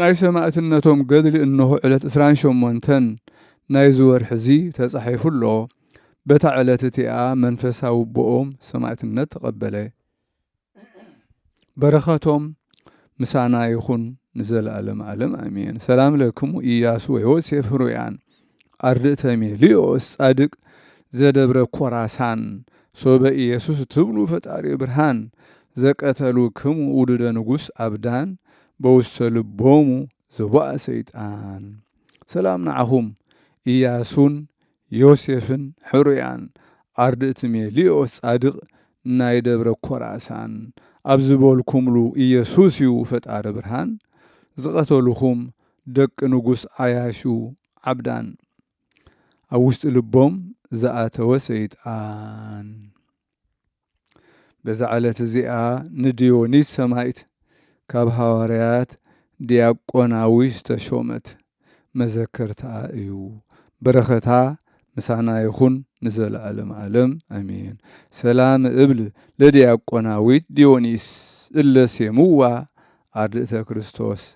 ናይ ሰማእትነቶም ገድሊ እነሆ ዕለት ዕስራን ሸሞንተን ናይዚ ወርሒ እዚ ተጻሒፉ ኣሎ። በታ ዕለት እቲኣ መንፈስ ኣውቦኦም ሰማእትነት ተቐበለ። በረኸቶም ምሳና ይኹን ንዘለኣለም ኣለም ኣሜን። ሰላም ለክሙ ኢያሱ ወዮሴፍ ህሩያን። ኣርድእተ ሜልዮስ ጻድቅ ዘደብረ ኮራሳን ሶበ ኢየሱስ ትብሉ ፈጣሪ ብርሃን ዘቀተሉክሙ ውሉደ ንጉሥ ኣብዳን በውስተ ልቦሙ ዘቦኣ ሰይጣን ሰላም ንዓኹም ኢያሱን ዮሴፍን ሕሩያን ኣርድእት ሜልዮስ ጻድቅ ናይ ደብረ ኮራሳን ኣብ ዝበልኩምሉ ኢየሱስ እዩ ፈጣሪ ብርሃን ዝቀተሉኹም ደቂ ንጉስ ዓያሹ ዓብዳን ኣብ ውሽጢ ልቦም ዝኣተወ ሰይጣን። በዛ ዕለት እዚኣ ንድዮኒስ ሰማይት ካብ ሃዋርያት ዲያቆናዊ ዝተሾመት መዘከርትኣ እዩ። በረኸታ ምሳና ይኹን ንዘለዓለም ዓለም ኣሜን። ሰላም እብል ለዲያቆናዊት ዲዮኒስ እለ ሴምዋ ኣርድእተ ክርስቶስ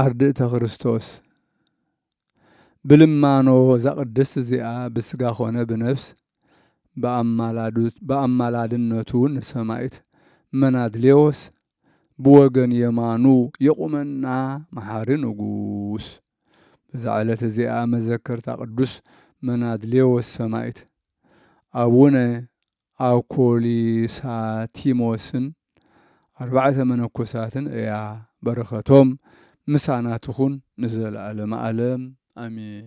ኣርድእተ ክርስቶስ ብልማኖ እዛ ቅድስት እዚኣ ብስጋ ኮነ ብነፍስ ብኣማላድነቱ ንሰማኢት መናድሌዎስ ብወገን የማኑ የቁመና መሓሪ ንጉስ በዛ ዕለት እዚኣ መዘከርታ ቅዱስ መናድሌዎስ ሰማኢት ኣቡነ ኣኮሊሳቲሞስን ኣርባዕተ መነኮሳትን እያ በረከቶም ምሳና ትኩን ንዘለኣለመ ኣለም ኣሜን።